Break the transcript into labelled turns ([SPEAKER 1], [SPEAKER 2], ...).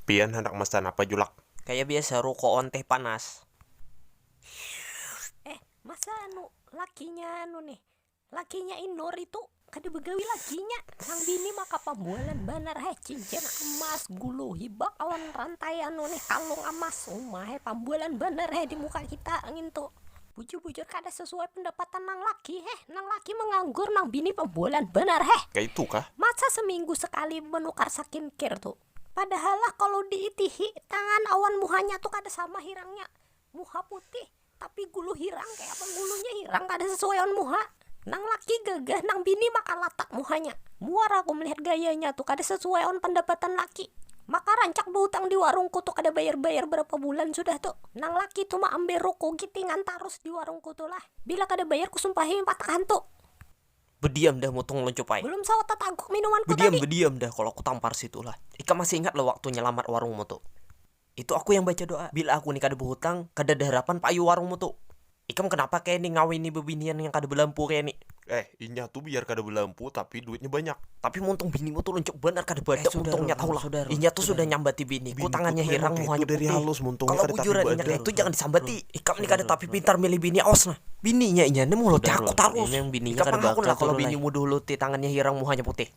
[SPEAKER 1] Pian handak masan apa julak. Kaya biasa rukoon
[SPEAKER 2] teh panas. Shhh
[SPEAKER 3] eh masa anu lakinya anu nih lakinya inur itu kada bagawi lakinya nang bini maka pambualan banar hai cincin amas gulu hibak awan rantai anu nih kalung amas uma hai pambualan banar hai di muka kita ngintu. Bujur bujur kada sesuai pendapatan nang laki heh, nang laki menganggur nang bini pembolan banar heh, Kaitu kah?
[SPEAKER 1] masa seminggu sekali
[SPEAKER 3] menukar sakinkir tu, padahal lah kalu di itihi tangan awan muhanya tu kada sama hirangnya, muha putih tapi gulu hirang kaya apa gulunya hirang kada sesuai awan muha. Nang laki gagah, nang bini maka latak muhanya. Muar aku melihat gayanya tu kada sasuai awan pandapatan laki. Maka rancak bahutang di warungku tu kada bayar-bayar barapa bulan sudah tu. Nang laki tu maambil ruku gitingan tarus di warungku tu lah. Bila kada bayar kusumpahi watak hantu. Bediam
[SPEAKER 2] dah mutung luncup ai. Belum sawat tataguk
[SPEAKER 3] minumanku tadi. Bediam bediam dah kalo kutampar
[SPEAKER 2] situ lah. Ikam masih ingat lah waktu nyalamat warungmu tu. Itu aku yang baca doa. Bila aku ni kada bahutang, kada ada harapan payu warungmu tu. Ikam kanapa kaya ni ngawini babinian yang kada balampu kaya ni. Eh, inya tu biar
[SPEAKER 1] kada balampu tapi duitnya banyak. Tapi muntung binimu
[SPEAKER 2] tu luncup banar kada badak muntungnya tahu lah. Inya tu sudah nyambati biniku tangannya hirang muhanya putih.
[SPEAKER 1] Kalo
[SPEAKER 2] bujuran
[SPEAKER 1] inya kaya tu jangan disambati.
[SPEAKER 2] Ikam ni kada tapi pintar milih bini awas nah. Bininya inya ni muhuluti aku tarus. Ikam pang hakun
[SPEAKER 4] lah kalo binimu duhuluti
[SPEAKER 2] tangannya hirang muhanya putih.